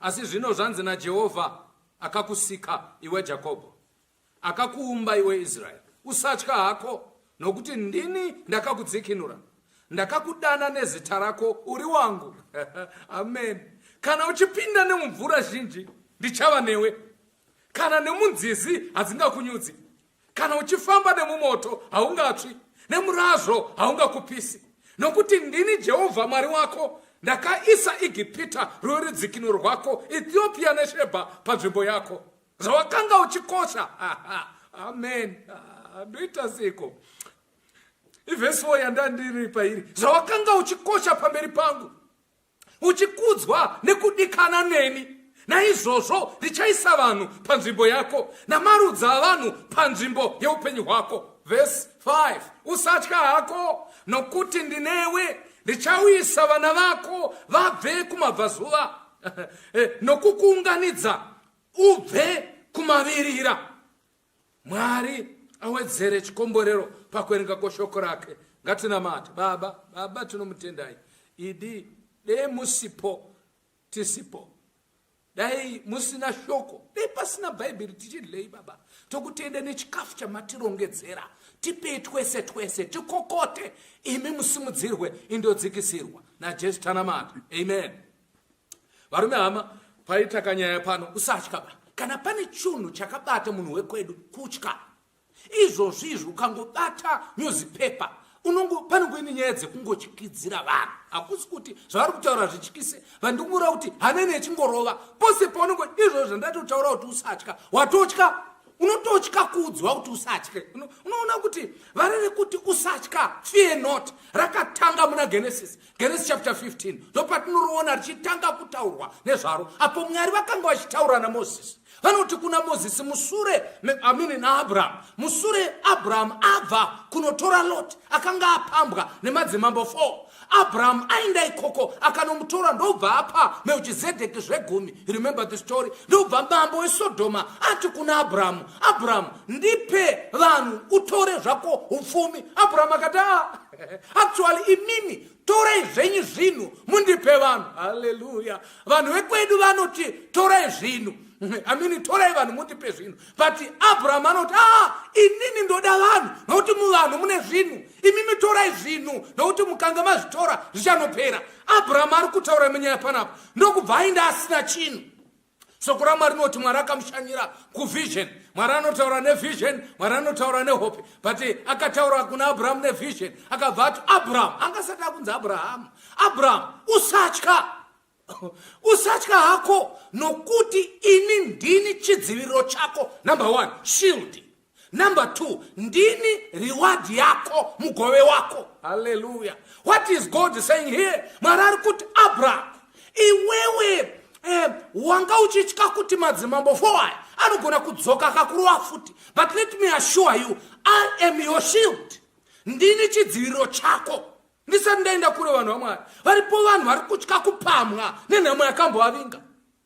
Asi zvino zvanzi naJehovha akakusika iwe Jakobho, akakuumba iwe Israeri, usatya hako, nokuti ndini ndakakudzikinura, ndakakudana nezita rako, uri wangu. Amen. Kana uchipinda nemumvura zhinji, ndichava newe, kana nemunzizi hadzingakunyudzi. Kana uchifamba nemumoto haungatsvi, nemurazvo haungakupisi, nokuti ndini Jehovha Mwari wako ndakaisa Igipita rweridzikino rwako, Ethiopia neShebha panzvimbo yako, zvawakanga uchikosha. Amen. Ah, ndoita siko ivhesi wo yandandiri pairi zvawakanga uchikosha pamberi pangu uchikudzwa nekudikana neni naizvozvo ndichaisa vanhu panzvimbo yako namarudzi avanhu panzvimbo yeupenyu hwako vhesi 5 usatya hako nokuti ndinewe ndichauyisa vana vako vabve kumabvazuva eh, nokukuunganidza ubve kumavirira Mwari awedzere chikomborero pakuerenga koshoko rake ngatinamate baba baba tinomutendai idi dei musipo tisipo dai musina shoko dai pasina bhaibheri tichidlei baba tokutenda nechikafu chamatirongedzera tipei twese twese tikokote imi musimudzirwe indodzikisirwa najesu tanamata amen Varume hama, paita kanyaya pano, usatya ba. Kana pane chunhu chakabata munhu wekwedu, kutya. Izvozvi izvi ukangobata newspaper, unongo panongoine nyaya dzekungotyidzira vanhu. Hakusi kuti zvavari kutaura zvityise, vandikungura kuti hanene chingorova. Pose paunongo izvozvi zvandatotaura kuti usatya, watotya. Unototya kuudzwa kuti usatye. Unoona kuti varere kuti usatya, fear not, rakatanga muna Genesis. Genesis chapter 15 ndopatinoroona richitanga kutaurwa nezvaro apo mwari vakanga vachitaura namozisi vanoti kuna mozisi musure amini naabrahamu musure abrahamu abva kunotora loti akanga apambwa nemadzimambo 4 abrahamu aenda ikoko akanomutora ndobva apa meuchizedheki zvegumi remember the story ndobva mambo wesodhoma ati kuna abrahamu abrahamu ndipe vanhu utore zvako upfumi abrahamu akati a ah, actually imimi torai zvenyu zvinhu mundipe vanhu haleluya vanhu vekwedu vanoti torai zvinhu amini torai vanhu mundipe zvinhu but abraham anoti aa ah, inini ndoda vanhu nokuti muvanhu mune zvinhu imimi torai zvinhu nokuti mukanga mazvitora zvichanopera abraham ari kutaura munyaya panapa ndokubva ainda asina chinhu soko ramwari rinoti mwari akamushanyira kuvision mwari anotaura nevision mwari anotaura nehope but eh, akataura kuna abrahamu nevision akabva ati abrahamu angasati akunzi abrahamu abrahamu usatya usatya hako nokuti ini ndini chidziviriro chako number one shield Number two, ndini reward yako mugove wako. Hallelujah. What is God saying here? Mwari ari kuti Abraham, iwewe eh, wanga uchitya kuti madzimambo four aya anogona kudzoka akakurova futi. But let me assure you, I am your shield. Ndini chidziviriro chako. Ndisati ndaenda kure vanhu vamwari. Varipo vanhu vari kutya kupamwa nenhamo yakambovavinga.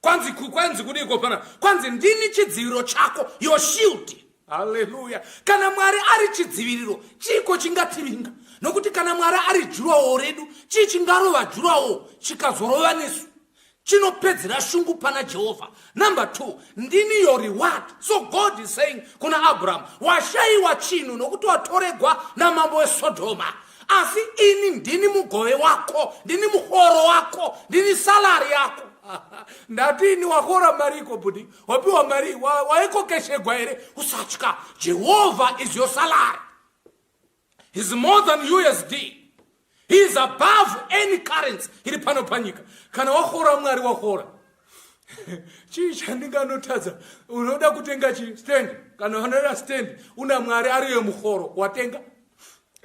kwanzi kwanzi kudiko pana kwanzi ndini chidziviriro chako your shield haleluya kana mwari ari chidziviriro chiiko chingativinga nokuti kana mwari ari jurawo redu chii chingarova jurawo chikazorova nesu chinopedzera shungu pana jehovha number two ndini your reward so god is saying kuna abrahamu washaiwa chinhu nokuti watoregwa namambo wesodhoma asi ini ndini mugove wako ndini muhoro wako ndini salari yako ndati ini wahora mariko budi wapiwa mari waikokeshegwa here usatya jehovha is your salary his more than usd he is above any currency iri pano panyika kana wahora mwari wahora chii chandinganotadza unoda kutenga chi stand kana unoda stand una mwari ariyo muhoro watenga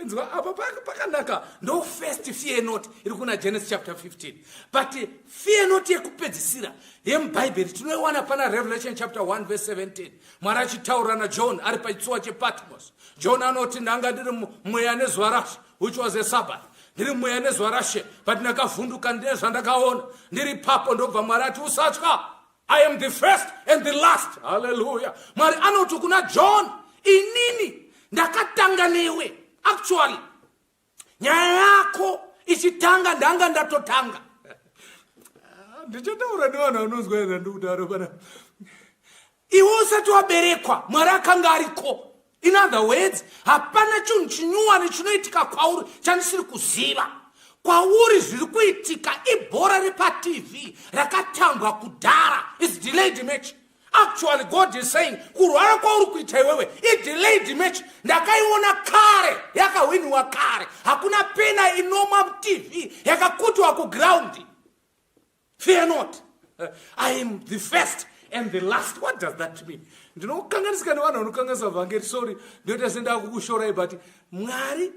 inzwa apa pakanaka ndo first fear not iri kuna genesis chapter 15 but eh, fear not yekupedzisira yemubhaibheri tinoiwana pana revelation chapter 1 verse 17 mwari achitaura najohn ari pachitsuwa chepatmos john anoti ndanga ndiri mweya nezuva rashe which was a sabbath ndiri mweya nezuva rashe but ndakavhunduka ndine zvandakaona ndiri papo ndobva mwari ati usatya I am the first and the last. Hallelujah. Mwari anoti kuna John, inini ndakatanga newe. Actually, nyaya yako ichitanga ndanga ndatotanga. Ndichataura nevanhu vanonzwa here ndikutaura pana. Iwe usati waberekwa, Mwari akanga ariko. In other words, hapana chinhu chinyuwani chinoitika kwauri chandisiri kuziva. Kwauri zviri kuitika ibhora repaTV rakatambwa kudhara. It's delayed match. Actually, God is saying, kurwara kwauri kuita iwewe, it delayed match. Ndakaiona kare, yakahwiniwa kare. Hakuna pena inoma TV yakakutiwa kuground. fear not uh, i am the first and the last what does that mean ndinokukanganisika nevanhu vanokanganisa vhangeri sorry ndoita sendakukushorai but mwari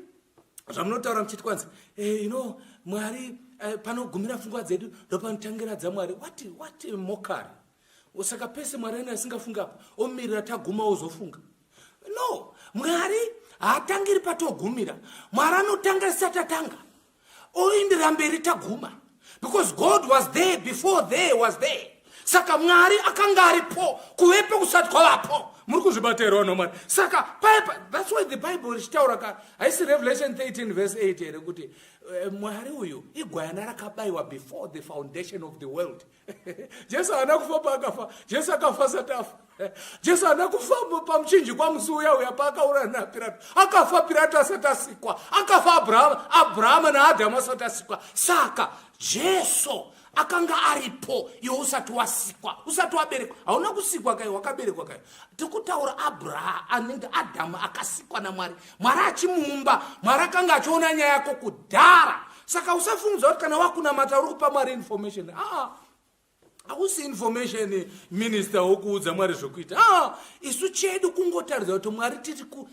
zvamunotaura muchiti kwanzi hey, eh, you know mwari uh, panogumira fungwa dzedu ndopanotangira dzamwari what, what mokari saka pese mwari ane asingafunga apa omirira taguma ozofunga no mwari haatangiri patogumira mwari anotanga sati atanga oindira mberi taguma because god was there before there was there saka mwari akanga aripo kuvepo kusati kwavapo muri kuzvibaterwa nomwari saka paipa thats why the bible richitaura ka haisi revelation 13 verse 8 here kuti eh, mwari uyu igwayana rakabayiwa before the foundation of the world jesu haana kufa paakafa jesu akafa asati afa jesu haana kufa pamuchinjikwa musi uya uya paakauraya napilato akafa pilato asati asikwa akafa abrahama abrahama naadhamu asati asikwa saka jesu akanga aripo iwe usati wasikwa usati waberekwa hauna kusikwa kai wakaberekwa kai tiri kutaura abraha anenge adhamu akasikwa namwari mwari achimuumba mwari akanga achiona nyaya yako kudhara saka usafungudza kuti kana wakunamata uri kupa mwari information aa hausi information minister wokuudza mwari zvekuita aa isu chedu kungotaridza kuti mwari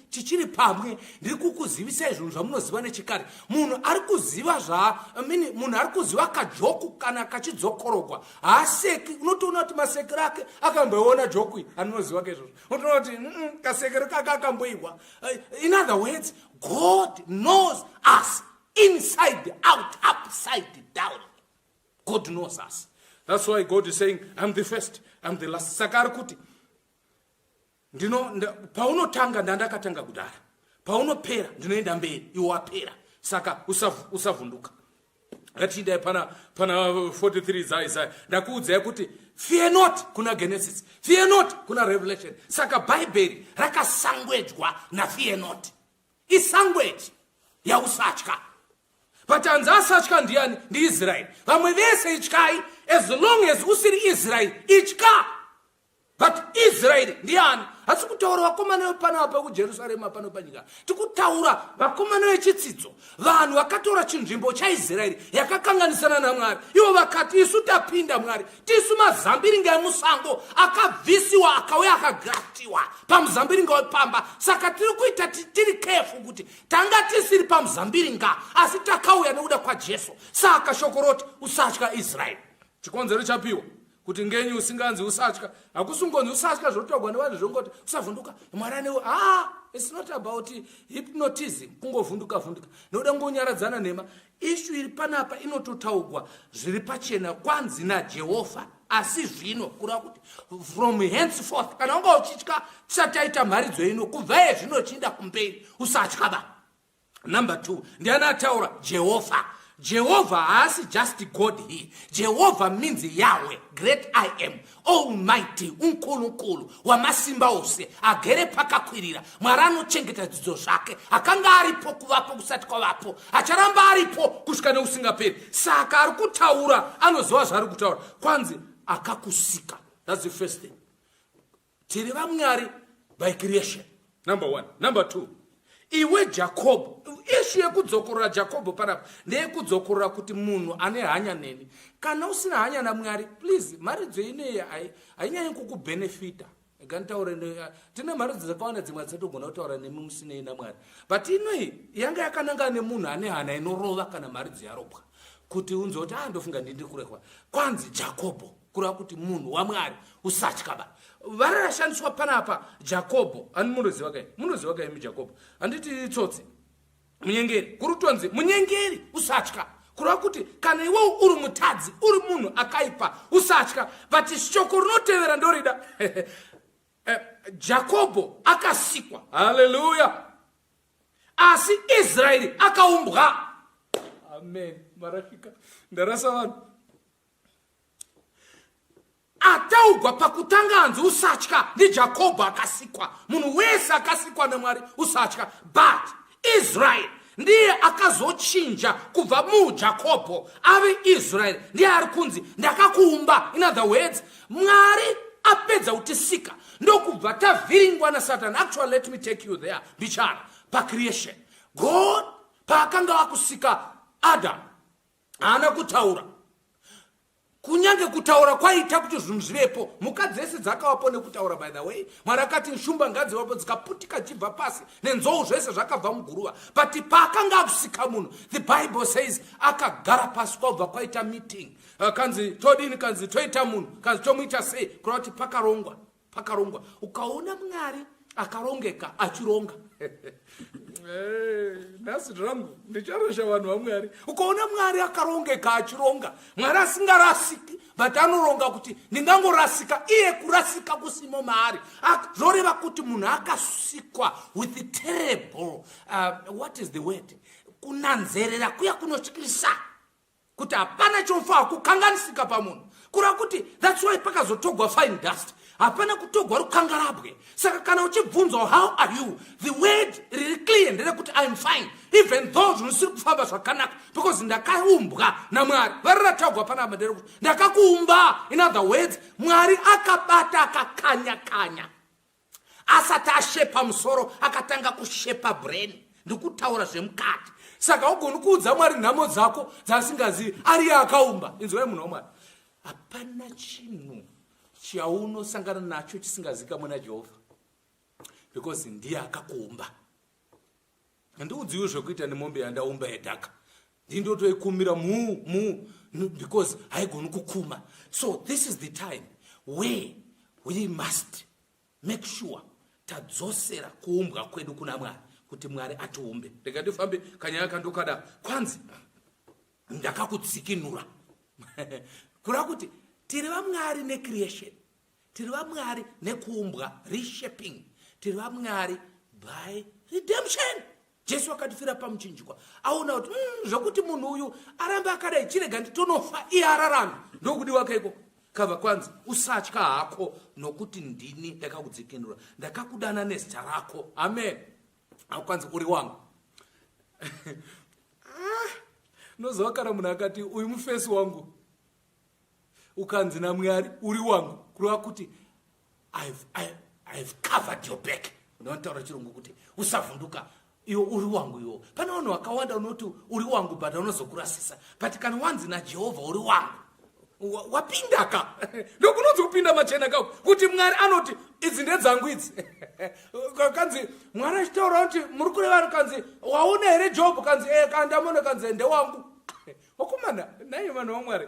tichiri pamwe ndiri kukuzivisai zvinhu zvamunoziva nechikare munhu ari kuziva zvamunhu ari kuziva kajoku kana kachidzokorogwa haaseki unotoona kuti masekero ake akamboiona jokwi anonoziva kezvozvo unotoona kuti kasekero kake akamboihwa eh, in other words god knows us inside out upside down god knows us that's why god is saying im the first im the last saka ari kuti ndino nda, paunotanga ndandakatanga kudhara paunopera ndinoenda mberi iwo wapera saka usavhunduka ngatichidai pana pana 43 zai zai ndakuudzai kuti fear not kuna genesis fear not kuna revelation saka bhaibheri rakasangwejwa nafear not isangweji yausatya but anzi asatya ndiani ndiisraeri vamwe vese ityai as long as usiri israeri itya but israeri ndiani hasi kutaura vakomana vepano apa kujerusarema pano panyika tikutaura vakomana vechitsidzo vanhu vakatora chinzvimbo chaisraeri yakakanganisana namwari ivo vakati isu tapinda mwari tisu mazambiringa emusango akabvisiwa akauya akagatiwa pamuzambiringa wepamba saka tiri kuita tiri kefu kuti tanga tisiri pamuzambiringa asi takauya nekuda kwajesu saka shokoroti usatya israeri chikonzero chapiwa kuti ngenyi usinganzi usatya hakusi ungonzi usatya zvotaugwa nevanhu zvongoti usavhunduka mwari anewe haa ah, its not about hypnotism kungovhunduka vhunduka noda ngonyaradzana nhema ishu iri panapa inototaugwa zviri pachena kwanzi najehovha asi zvino kureva kuti from henceforth kana unga uchitya tisataita mharidzo ino kubva yezvinochinda kumberi usatya ba Number two, ndiani ataura Jehovha. Jehovha haasi just God here. Jehovha means Yahweh, great I am, almighty, unkulunkulu, wamasimba ose, agere pakakwirira, Mwari anochengeta dzidzo zvake, akanga aripo kuvapo kusati kwavapo, acharamba aripo kusvika neusingaperi. Saka ari kutaura, anoziva zvaari kutaura. Kwanzi akakusika. That's the first thing. tiri vamwari by creation number one number two iwe jakobho ishu yekudzokorora jakobho panapa ndeyekudzokorora kuti munhu ane hanya neni kana usina hanya namwari please mharidzo inei hainyanyi kukubhenefita ganitaure uh, tine mharidzo dzakawanda dzimwe dzatogona kutaura nemi musinei namwari but inoi yanga yakananga nemunhu ane hana inorova kana mharidzo yarobwa kuti unzwa kuti a ah, ndofunga ndindiri kurehwa kwanzi jakobho kureva kuti munhu wamwari usatya ba vara rashandiswa panapa jakobho ani munoziva kai munoziva kai mujakobho handiti tsotsi munyengeri kuri kutonzi munyengeri usatya kureva kuti kana iwewo uri mutadzi uri munhu akaipa usatya but shoko rinotevera ndorida eh, jakobho akasikwa haleluya asi israeri akaumbwa amen marasika ndarasa vanhu ataugwa pakutanga anzi usatya ndijakobho akasikwa munhu wese akasikwa nemwari usatya but israeri ndiye akazochinja kubva mujakobho ave israeri ndiye ari kunzi ndakakuumba in other words mwari apedza kutisika ndokubva tavhiringwa nasatani actually let me take you there mbichana pacreation god paakanga akusika adamu haana kutaura kunyange kutaura kwaita kuti zvinhu zvivepo mhuka dzese dzakawapo nekutaura by the way mwari akati nshumba ngadzivapo dzikaputika chibva pasi nenzou zvese zvakabva muguruva but paakanga akusika munhu the bible says akagara pasi kwabva kwaita meeting uh, kanzi todini kanzi toita munhu kanzi tomuita sei kuna kuti pakarongwa pakarongwa ukaona mwari akarongeka achironga nhasi eh, zvangu ndicharosha vanhu vamwari ukaona mwari akarongeka achironga mwari asingarasiki but anoronga kuti ndingangorasika iye kurasika kusimo maari zvoreva kuti munhu akasikwa with terrible uh, what is the word kunanzerera kuya kunotyisa kuti hapana chofaa kukanganisika pamunhu kura kuti thats why pakazotogwa fine dust hapana kutogwa rukangarabwe saka kana uchibvunzwa how are you the word riri clear nderekuti iam fine even though zvinhu zvisiri kufamba zvakanaka because ndakaumbwa namwari varirataugwa panapa nderekuti ndakakuumba in other words mwari akabata akakanya kanya asati ashepa musoro akatanga kushepa brain ndikutaura zvemukati saka ugoni kuudza mwari nhamo dzako dzaasingazivi ari ye akaumba inzwai munhu wamwari hapana chinhu chaunosangana nacho chisingazika muna jehovha because ndiye akakuumba handiudziwi zvekuita nemombe yandaumba yedhaka ndindotoikumira mu mu because haigoni kukuma so this is the time where we must make sure tadzosera kuumbwa kwedu kuna mwari kuti mwari atiumbe rega ndifambe kanyaya kandokada kwanzi ndakakutsikinura kura kuti tiri vamwari necreation tiri vamwari nekuumbwa reshaping tiri vamwari by redemption jesu akatifira pamuchinjikwa aona kuti mm, zvekuti munhu uyu arambe akadai chirega nditonofa iye ararame ndokudi wake iko kava kwanzi usatya hako nokuti ndini ndakakudzikinura ndakakudana nezita rako amen akwanzi uri wangu ah, nozova kana munhu akati uyu mufesi wangu ukanzi namwari uri wangu kureva kuti ihave covered your back unotaura chirungu kuti usavhunduka iwo uri wangu iwo pane vanhu vakawanda unoti uri wangu but unozokurasisa but kana wanzi najehovha uri wangu wapinda ka ndokunonzi kupinda machena ka kuti mwari anoti idzi ndedzangu idzi kanzi mwari achitaura kuti muri kureva kanzi waona here job kanzi e eh, kandamone kanzi ndewangu vakomana nai vanhu vamwari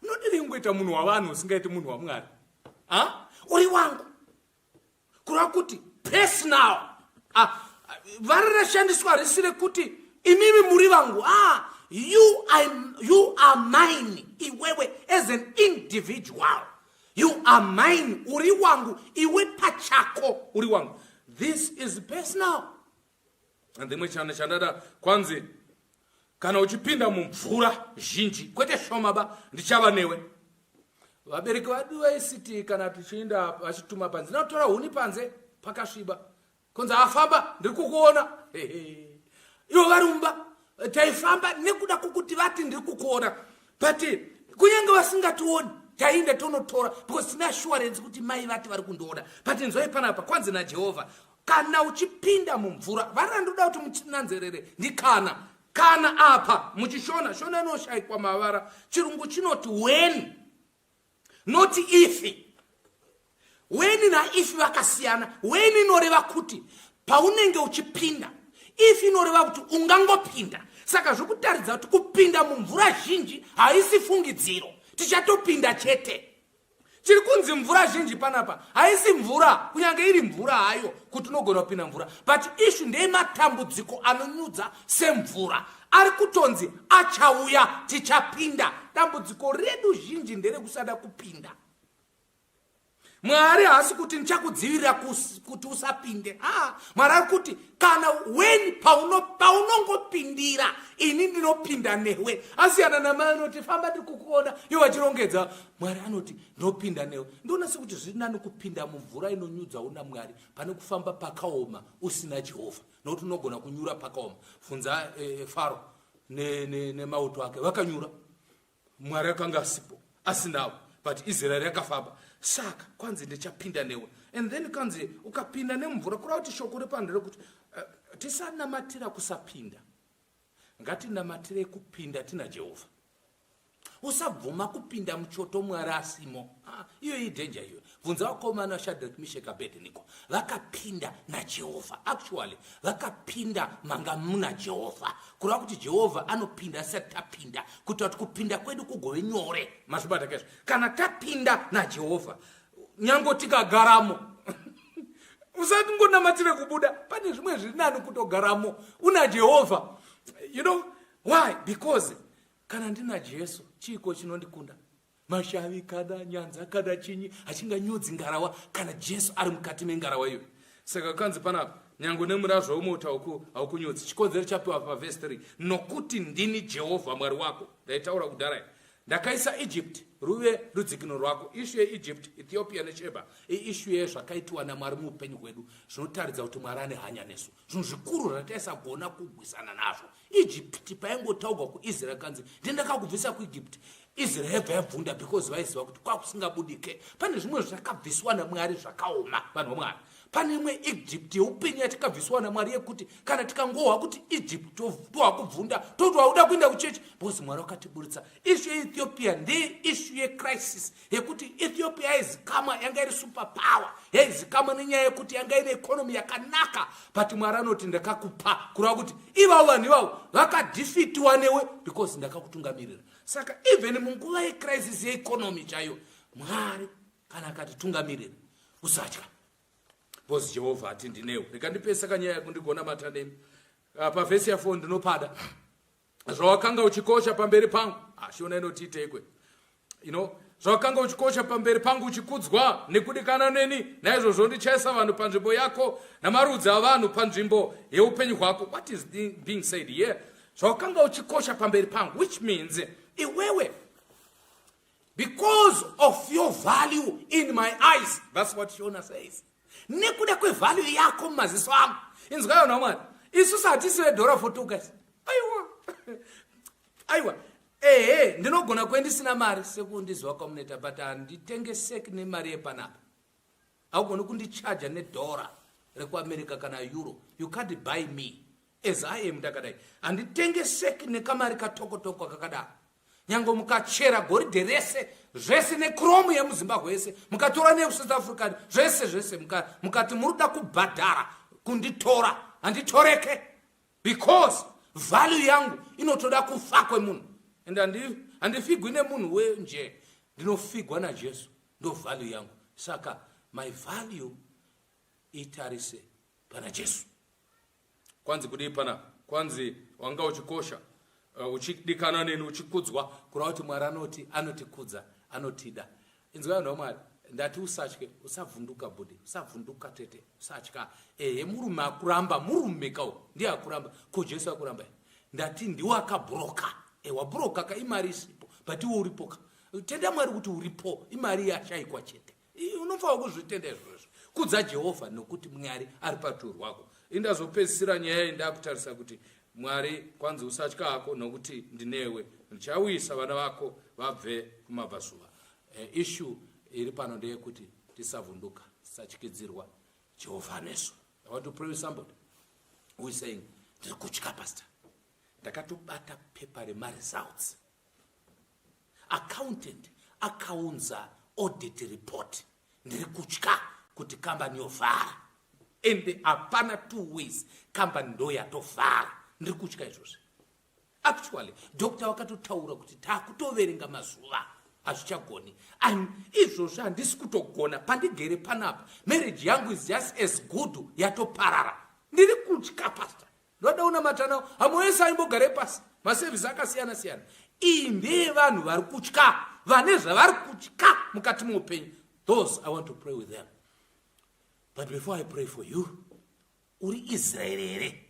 unodiri kungoita munhu wavanhu usingaiti munhu wamwari a uri wangu kureva kuti personal vara rashandiswa risi rekuti imimi muri vangu a you are, you are mine iwewe as an individual you are mine uri wangu iwe pachako uri wangu this is personal and imwe chana chandada kwanzi kana uchipinda mumvura zhinji kwete shoma ba ndichava newe vabereki vadu vaisiti kana tichiinda vachituma panze ndinotora huni panze pakasviba kunzi afamba ndiri kukuona ivo varumba taifamba nekuda kwokuti vati ndiri kukuona but kunyange vasingationi taienda tonotora because tine assurance kuti mai vati vari kundiona but nzwai panapa kwanzi najehovha kana uchipinda mumvura vara ndoda kuti muchinanzerere ndikana kana apa muchishona shona inoshaikwa mavara chirungu chinoti wen noti ifi weni naifi vakasiyana weni inoreva kuti paunenge uchipinda ifi inoreva kuti ungangopinda saka zvokutaridza kuti kupinda mumvura zhinji haisi fungidziro tichatopinda chete chiri kunzi mvura zhinji panapa haisi mvura kunyange iri mvura hayo kuti unogona kupinda mvura but ishu ndei matambudziko anonyudza semvura ari kutonzi achauya tichapinda dambudziko redu zhinji nderekusada kupinda mwari haasi kuti ndichakudzivirira kuti usapinde haa mwari ari kuti kana wen paunongopindira pauno ini ndinopinda newe asiyana namai anoti famba tiri kukuona iwe achirongedza mwari anoti ndopinda newe ndoona sekuti zviri nani kupinda mumvura inonyudza una mwari pane kufamba pakaoma usina jehovha nokuti unogona kunyura pakaoma funza e, faro nemauto ne, ne ake vakanyura mwari akanga asipo asinavo but israeri yakafamba saka kwanzi ndichapinda newe and then kanzi ukapinda nemumvura kurava kuti shoko repanhu rekuti uh, eh, tisanamatira kusapinda Ngatinamatirei kupinda tina Jehovha. Usabvuma kupinda muchoto Mwari asimo. Ah, iyo iyi danger iyo. Bvunza vakomana Shadrach, Meshach, Abednego. Vakapinda na Jehovha. Actually, vakapinda manga muna Jehovha. Kureva kuti Jehovha anopinda asati tapinda. Kuti kuti kupinda kwedu kugove nyore. Mazvibata kezvo. Kana tapinda na Jehovha, nyango tikagaramo usati ngonamatire kubuda pane zvimwe zviri nani kutogaramo una jehovha you know why because kana ndina jesu chiiko chinondikunda mashavi kada nyanza kada chinyi hachinganyudzi ngarawa kana jesu ari mukati mengarawa iyoyo saka kanzi panapa nyange nemurazva womota uku haukunyudzi chikonzero chapiwa pavhesi 3 nokuti ndini jehovha mwari wako ndaitaura kudhara Ndakaisa Egypt ruve rudzikino rwako. Ishu yeEgypt, Ethiopia neSheba iishu yezvakaitiwa naMwari muupenyu hwedu zvinotaridza kuti Mwari ane hanya nesu. Zvinhu zvikuru zvataisagona kugwisana nazvo. Egypt paingotaugwa kuIsrael kanzi ndendakakubvisa kuEgypt. Israel yabva yabvunda because vaiziva kuti kwakusingabudike. Pane zvimwe zvatakabviswa naMwari zvakaoma vanhu vaMwari. pane imwe egypt yeupenyu yatikabviswa na mwari yekuti kana tikangohwa kuti egypt tohwa kubvunda toti wauda kuenda kuchechi because mwari wakatiburitsa ishu yeethiopia ndeye ishu yecrisis yekuti ethiopia yaizikama yanga iri super power yaizikama nenyaya yekuti yanga ine economy yakanaka but mwari anoti ndakakupa kureva kuti ivavo vanhu ivavo vakadhifitiwa newe because ndakakutungamirira saka even munguva yecrisis yeeconomy chaiyo mwari kana akatitungamirira usatya bcause jehovha ati ndinewe rega ndipesa kanyaya yakundigona mata nemi ah, pavhesi yafo ndinopada zvawakanga uchikosha pamberi pangu ashona ah, inotiitekwe you know zvawakanga uchikosha pamberi pangu uchikudzwa nekudikana neni naizvozvo ndichaisa vanhu panzvimbo yako namarudzi avanhu panzvimbo yeupenyu hwako what is being said here yeah? zvawakanga uchikosha pamberi pangu which means iwewe because of your value in my eyes thats what shona says nekuda kwevalue yako mumaziso angu inzwa yona mwari isusu hatisi vedhora fotukas aiwa aiwa ehe ndinogona kuve ndisina mari sekundiziva kwamunoita but handitengeseki nemari yepanapa haugoni kundichaja nedhora rekuamerica kana euro you can't buy me as i am ndakadai handitengeseki nekamari katokotoko kakadaro nyange mukachera goridhe rese zvese necromu yemuzimbabwe yese mukatora neusouth african zvese zvese mukati muri kuda kubhadhara kunditora handitoreke because value yangu inotoda kufa kwemunhu and handifigwi nemunhu wenje ndinofigwa najesu ndo value yangu saka my value itarise pana jesu kwanzi kudii panapa kwanzi wanga uchikosha uh, uchidikanwa neni uchikudzwa kurava kuti mwari anoti anotikudza anotida inzwa vanhu vamwari ndati usatye usavhunduka bhudi usavhunduka tete usatya ehe murume akuramba murume kawo ndiye akuramba ko jesu akuramba ndati ndiwo akabhuroka e wabhuroka ka imari isipo but iwe uripoka tenda mwari kuti uripo imari yashaikwa chete unofa wakuzvitenda izvozvo kudza jehovha nokuti mwari ari patuu rwako indazopedzisira nyaya iyi ndakutarisa kuti mwari kwanzi usatya hako nokuti ndinewe ndichauyisa vana vako vabve kumabvazuva e, eh, ishu iri pano ndeyekuti tisavhunduka tisatyidzirwa jehovha anesu i want to pray with somebody who is saying ndiri kutya pastor ndakatobata pepa remaresults Accountant akaunza audit report ndiri kutya kuti kambani yovhara ende hapana two ways kambani ndo yatovhara ndiri kutya izvozvi actually doctor vakatotaura kuti takutoverenga mazuva hazvichagoni and izvozvi handisi kutogona pandigere panapa marriage yangu is just as good yatoparara ndiri kutya pastor ndoda unamata nawo hamwe wese aimbogare pasi masevhisi akasiyana siyana iyi ndeye vanhu vari kutya vane zvavari kutya mukati muupenyu those i want to pray with them but before i pray for you uri israeri here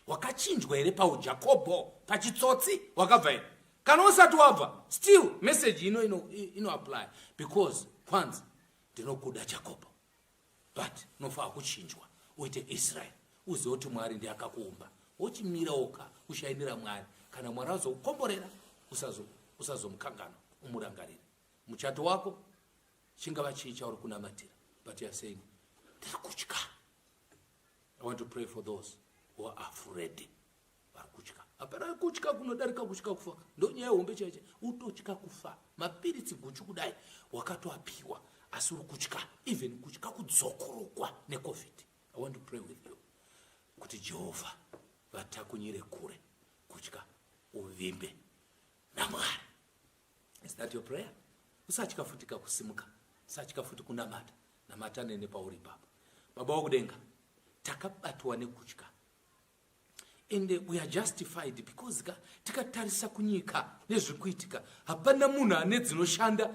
wakachinjwa here paujakobho pachitsotsi wakabva here kana usati wabva still message ino ino, ino apply because kwanzi ndinokuda jakobho but unofanira kuchinjwa uite israel uzive kuti mwari ndiye akakuumba wochimirawoka ushainira mwari kana mwari azokukomborera usazomukangana umurangarire muchato wako chingava chii chauri kunamatira but youare saying ndiri kutya I want to pray for those who are afraid. Vari kutya. Hapana kutya kunodarika kutya kufa. Ndonyaya hombe chaicha. Utotya kufa. Mapiritsi guchu kudai wakatoapiwa asi uri kutya even kutya kudzokorokwa necovid. I want to pray with you kuti Jehovah vatakunyire kure kutya uvimbe namwari Is that your prayer? Usatya futi kakusimuka, usatya futi kunamata, namata nene pauri ipapo. Baba wakudenga, takabatwa nekutya and uh, we are justified because ka tikatarisa kunyika nezviri kuitika hapana munhu ane dzinoshanda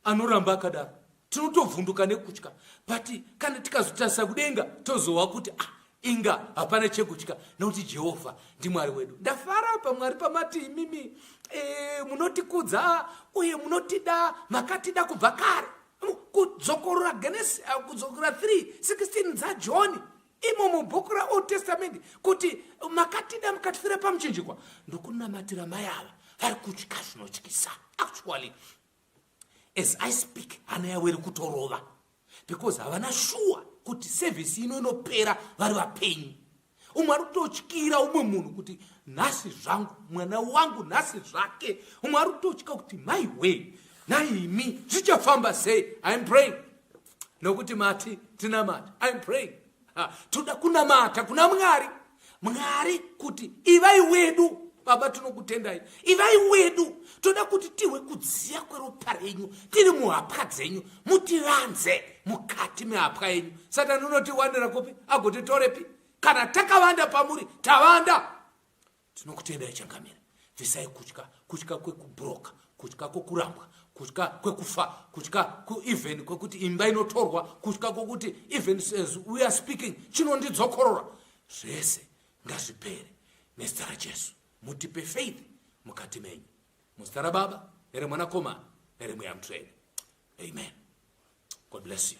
anoramba akadaro tinotovhunduka nekutya but kana tikazotarisa kudenga tozowa kuti ah inga hapana chekutya nokuti jehovha ndimwari wedu ndafara pamwari pamati imimi e, munotikudza uye munotida makatida kubva kare kudzokorora genesi eh, kudzokorora 3 16 dzajoni imo mubhuku raold testament kuti makatida mukatifira pamuchinjikwa ndokunamatira mai ava vari kutya zvinotyisa actually as i speak hana yavo iri kutorova because havana shuwa kuti sevhisi ino inopera vari vapenyu umwe ari kutotyira umwe munhu kuti nhasi zvangu mwana wangu nhasi zvake umwe ari kutotya kuti my way naimi zvichafamba sei im praying nokuti mati tinamati im praying Ha, toda kunamata kuna Mwari. Mwari kuti ivai wedu baba tinokutendai ivai wedu toda kuti tihwe kudziya kweropa renyu tiri muhapwa dzenyu mutivanze mukati mehapwa yenyu satani unotiwandira kupi agotitorepi kana takavanda pamuri tavanda Tinokutendai Changamire, bvisai kutya, kutya kwekubroka, kutya kwekurambwa, kutya kwekufa, kutya even kwekuti imba inotorwa, kutya kwekuti even as we are speaking chinondidzokorora. Zvese ngazvipere nezita raJesu. Mutipe faith mukati menyu. Muzita raBaba, neremwanakomana, neremweya mutsvene. Amen. God bless you.